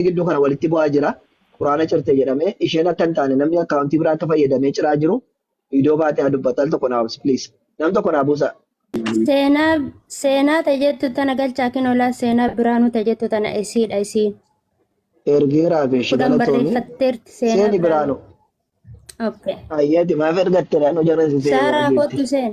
namni gidduu kana walitti bu'aa jira quraana cirte jedhamee isheen akka hin taane namni akkaawuntii biraa akka fayyadamee ciraa jiru viidiyoo baatee haa dubbatu al tokko naa waamsi please nam tokko naa buusa Seenaa seenaa ta jettu tana galchaa kin olaa seenaa biraanuu ta jettu tana isiidha isiin. ergeeraa fi ishii Kudhan galatoomii barreeffatteerti seenaa seeni biraanuu. biraanu Okay. Ayyaati maaf ergatte naannoo jaran si seeni Saaraa barreeffatte. kottu seen.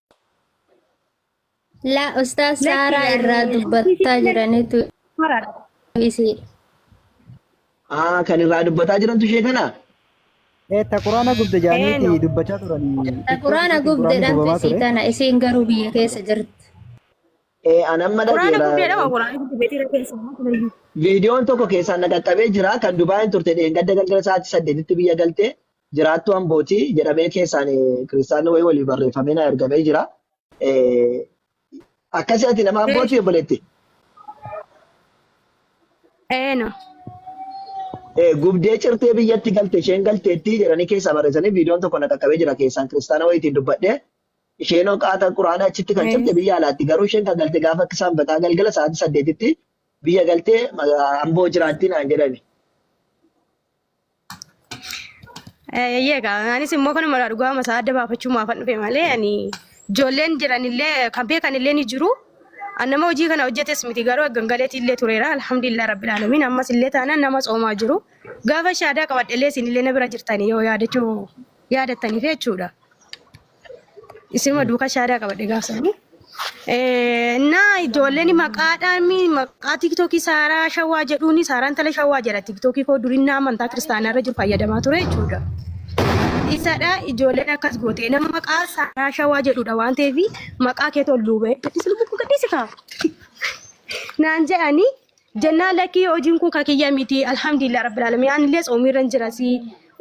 La Ustaaz Lakki Saaraa yaani irraa dubbattaa jiranitu maraadha. isii. Aa kan irraa dubbataa jirantu ishee kana. Eh, ta quraana gubde Eeno. jaaniiti dubbachaa turanii. Ta TikTok Quraana irratti quraanni gubdeedhaan gubamaa isii ture. tana isiin garuu biyya keessa jirti. Ee an amma Quraana dhageera. guddeedha moo quraana guddi beetiira keessa moo tureyyuu. Viidiyoon tokko keessaan na qaqqabee jira kan Dubaayin turte dheengadda galgala sa'aatii saddeetitti biyya galte. jiraattuu Ambooti jedhamee keessaan kiristaanni wayii waliif barreeffamee naa ergamee jira. Eh, Akkasii ati nama Ambooti obboleetti. Eeno. Eh, Gubdee cirtee biyyatti galte isheen galteetti jedhanii keessaa barreessanii viidiyoon tokko na qaqqabee jira keessaan kiristaana wayiitiin dubbadhee isheen hoqaata quraana achitti kan cirte biyya alaatti garuu isheen kan galte gaafa akka isaan bataa galgala sa'aatii saddeetitti biyya galtee maga- amboo jiraatti naan jedhani. Eeyyee egaa anis immoo kanuma irraa dhugaa masaa adda baafachuu maafan dhufe malee ani ijoolleen jiranillee kan beekanillee ni jiru. An nama hojii kana hojjetes miti garuu gangaleetii illee tureera alhamdulillah rabbil alamin ammas illee taanaan nama soomaa jiru. Gaafa shaadaa qabadhellee isinillee na bira jirtanii yoo yaadachuu yaadattaniif jechuudha. Isima duuka shaadaa qabadhe gaafsan. Na ijoolleen maqaadhaan maqaa tiiktookii saaraa shawaa jedhuun saaraan tala shawaa jedha tiiktookii koo durii na amantaa kiristaanaa irra jiru fayyadamaa ture jechuudha. Isadha ijoolleen akkas gootee nama maqaa saaraa shawaa jedhudha waan ta'eef maqaa kee tolluubee gadhiisni bukkuu gadhiisi kaa. Naan jedhanii Jennaan lakkii hojiin kun ka kiyya miti alhamdulillah rabbil alamin anillee tsoomiirran jirasi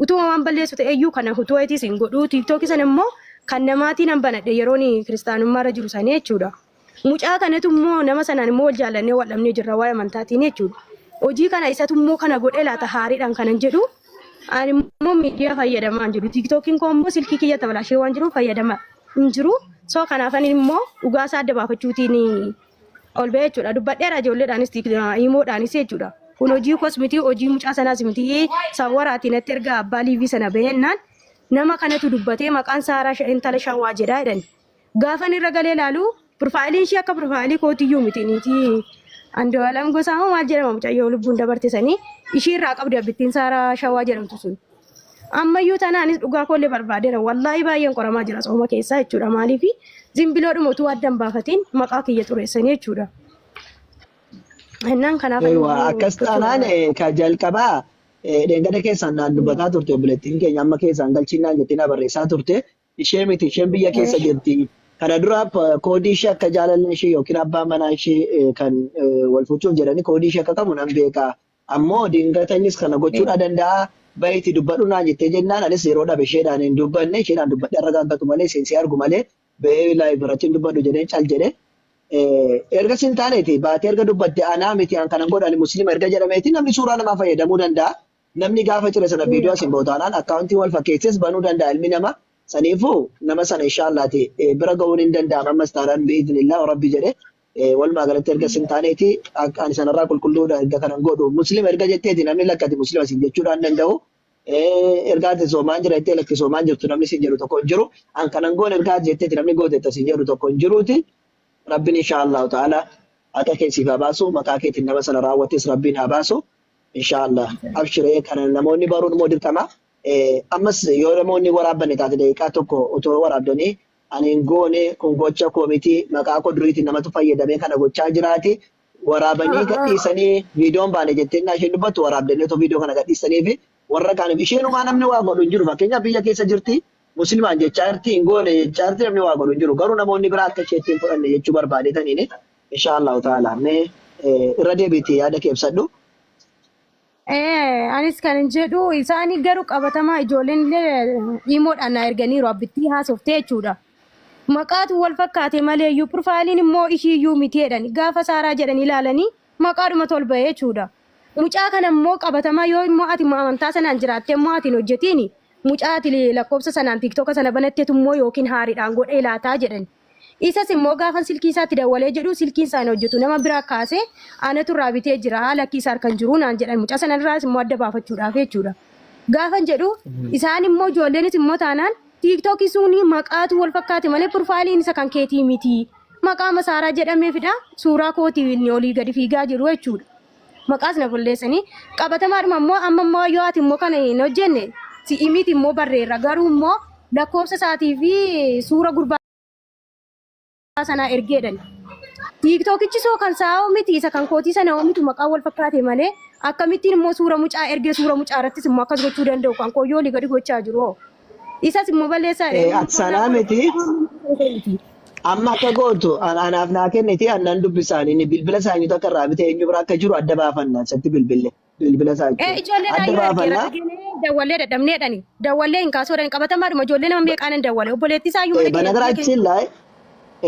utuma waan balleessu ta'eyyuu kana hutuu eetii sin godhu tiiktookii san immoo kan namaatii nan banadhe yeroon kiristaanummaarra jiru sanii jechuudha. Mucaa kanatu immoo nama sanaan immoo wal jaallannee wal dhabnee jirra waa'ee amantaatiin jechuudha. Hojii kana isatu immoo kana godhee laata haariidhaan kanan jedhu ani immoo miidiyaa fayyadamaa hin jiru tiiktookiin koo immoo silkii kiyya tabalaashee waan jiruuf fayyadama hin jiru soo kanaaf ani immoo dhugaasaa adda baafachuutiin ol ba'ee jechuudha. Dubbadheera ijoolleedhaanis hiimoodhaanis jechuudha. Kun hojii kos miti hojii mucaa sanaas miti sawwaraati natti erga abbaa liivii sana bahennaan nama kanatu dubbatee maqaan saaraa sha- intala shawaa jedhaa jedhani. Gaafan irra galee ilaalu pirfaayiliin ishee akka pirfaayilii kootiyyuu miti niitii Andu'aalam gosaa moo maal jedhama mucayyoo lubbuun dabarte sanii ishii irraa qabdi abbittiin saaraa shawaa jedhamtu sun. Ammayyuu tanaanis dhugaa koollee barbaadeera. Wallaahi baay'een qoramaa jira sooma keessaa jechuudha. Maaliif zimbiloodhuma utuu adda hin baafatiin maqaa kiyya xureessanii jechuudha. Innaan kanaaf Ewa, akkas taanaan eh, ka jalqabaa eh, dheengada keessaan naan dubbataa turte obboleettiin keenya amma keessaan galchiin naan jettee na barreessaa turte ishee miti isheen biyya keessa jirti kana dura p- koodii ishee akka jaalallee ishee yookiin abbaa manaa ishee eh, kan eh, wal fuuchuuf jedhanii koodii ishee akka qabu nan beeka Ammoo dingata innis kana gochuu dha danda'a, bahi itti dubbadhu naan jettee jennaan anis yeroo dhabe isheedhaan hin dubbanne, isheedhaan dubbadhee arragaagatu malee isheen si argu malee bahee live irratti hin dubbadhu jedheen cal jedhe. Ergas hin taaneeti baatee erga dubbatte anaa miti an kanan godhu ani muslima erga jedhameeti namni suuraa namaa fayyadamuu danda'a. Namni gaafa cire sana viidiyoo as hin bahu taanaan akkaawuntii wal fakkeessees banuu danda'a ilmi namaa. Saniifuu nama sana inshaallaatii bira gahuun hin danda'ama ammas taanaan bi'iznillaa rabbi jedhe walumaa galatti erga sin taaneeti akka ani sanarraa qulqulluudha erga kanan godhu muslima erga jetteeti namni lakkati muslima sin jechuudhaan danda'u erga ati soomaan jira jettee lakki soomaan jirtu namni sin jedhu tokko hin jiru an kanan goone erga ati jetteeti namni gooteetta sin jedhu tokko hin jiruuti rabbiin inshaa allahu ta'ala haqa kee siif haa baasu maqaa keetiin nama sana raawwates rabbiin haa baasu inshaa allah abshiree kana namoonni baruun immoo dirqama ammas yoo namoonni waraabbanne taate daqiiqaa tokko otoo waraabdanii Ani hin goone kun gocha koo miti maqaa koo duriitiin namatu fayyadamee kana gochaa jiraati waraabanii gadhiisanii viidiyoon baane jettee innaa isheen dubbattu waraabdanii otoo viidiyoo kana gadhiisanii fi warra kaaniif isheenumaa namni waa godhu hin jiru fakkeenyaaf biyya keessa jirti muslimaan jechaa jirti hin goone jechaa jirti namni waa godhu hin jiru garuu namoonni biraa akka isheetti hin fudhanne jechuu barbaadetaniin inshaa Allahu ta'ala mee irra deebiitii yaada kee ibsadhu. Eh, anis kan hin jedhu isaanii garuu qabatamaa ijoolleen illee imoodhaan na erganiiru abbittii haasoftee jechuudha. Maqaatu wal fakkaate malee iyyuu pirfaayiliin immoo ishii iyyuu miti jedhani gaafa saaraa jedhani ilaalanii maqaadhuma tolba jechuudha. Mucaa kana immoo qabatamaa yoo immoo ati immoo amantaa sanaan jiraattee immoo ati hin hojjetiin mucaa ati lakkoofsa sanaan tiiktoka sana banattetu immoo yookiin haariidhaan godhee laataa jedhani. Isas immoo gaafan silkii isaatti dawwalee jedhu silkiin isaa hin hojjetu nama biraa kaase anatu irraa bitee jira lakkii isa harka hin jiru naan jedhan mucaa sana irraas immoo adda baafachuudhaaf jechuudha. Gaafan jedhu isaan immoo ijoolleenis immoo taanaan tiiktookii suunii maqaatu wal fakkaate malee pirfaayiliin isa kan keetii miti maqaa masaaraa jedhameefidha suuraa kootii inni olii gadi fiigaa jiru jechuudha. maqaas na bulleessanii qabatamaadhuma immoo amma immoo yoo ati immoo kana hin hojjenne si'i miti immoo barreerra garuu immoo lakkoofsa isaatii fi suura gurbaa sanaa ergeedhan. Tiiktookichi soo kan isaa hoo miti isa kan kootii sana hoo miti maqaan wal fakkaate malee akkamittiin immoo suura mucaa ergee suura mucaa irrattis immoo akkas gochuu danda'u kan koo yoo olii gadi gochaa jiru hoo. Isas immoo balleessaa jedhe Eh, inni ati sanaa sanaa miti miti. amma akka gootu an- anaaf naa kenniti annan dubbisaanii ni bilbila isaanii tokko irraa bitee eenyu bira akka jiru adda baafannaa isatti bilbille bilbila isaa Ee jechuun ijoollee adda naayyuu ergeera baafannaa arginee dawwallee dadhabneedhani. Dawwallee hin kaasuu dhan qabatamaadhuma ijoollee nama ba- meeqaan hin dawwale. Obboleettii isaa iyyuu eh, mana keenya biyya keenya. banagaraachin laay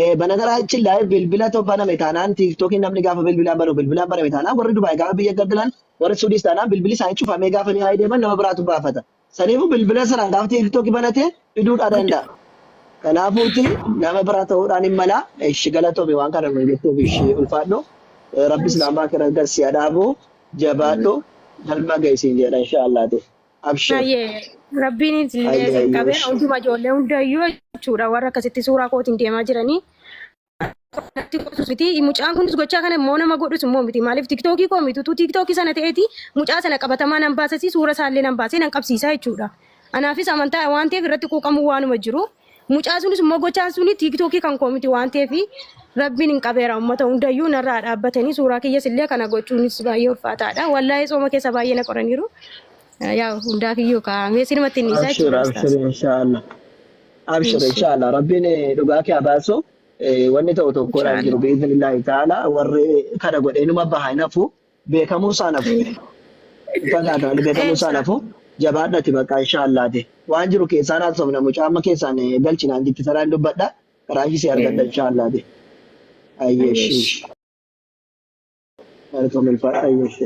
eh, banagaraachin laay bilbila to baname taanaan tiiktookii namni gaafa bilbilaan banu bilbilaan baname taanaan warri dubaay gaafa biyya gaddalan warri suudiis taanaan bilbili isaanii cufamee gaafa ni haayee deeman nama biraatu baafata Saniifuu bilbila sana gaafa tiiktookii banate fiduudhaa danda'a. Kanaafuuti nama biraa ta'uudhaan hin mala. Ishi galatoomi waan kana nuuf jettuuf ishi ulfaadhu. Eh, Rabbi islaamaa kira garsi adhaabu jabaadhu galma gaysiin jedha inshaallaati. Abshir. Hayyee rabbiin illee Hayyee, isin qabee hayyee. hunduma ijoollee hundayyuu jechuudha warra akkasitti suuraa kootiin deemaa jiranii natti qotus miti mucaan kunis gochaa kana immoo nama godhus immoo miti maaliif tiktookii koo miti utuu tiktookii sana ta'eeti mucaa sana qabatamaa nan baasasi suura isaallee nan baasee nan qabsiisaa jechuudha anaafis amantaa waan ta'eef irratti quuqamuu waanuma jiru mucaa sunis immoo gochaan suni tiktookii kan koo miti waan ta'eef rabbiin hin qabeera uummata hundayyuu narraa dhaabbatanii suuraa kiyyas illee kana gochuunis baay'ee ulfaataadha wallaahee sooma keessa baay'ee na qoraniiru yaa hundaa kiyyuu kaa'amee sinumatti inni isaa Abshir, jechuudha abshir, ustaas. inshallah. Abshir Insha- inshallah rabbiin eh, dhugaa kee abaasu eh, wanni ta'u tokkodha hin jiru Inshallah. biiznillaahi ta'ala warri kana godhe inuma baha hin hafu beekamuu isaan hafu fagaa ta'an beekamuu isaan hafu jabaadhati bakka inshallaati waan jiru keessaan haasofna mucaa amma keessaan eh, galchinaan jitti saraan dubbadha qaraashii si argadha inshallaati ayyeeshi malkoo milfadha ayyeeshi.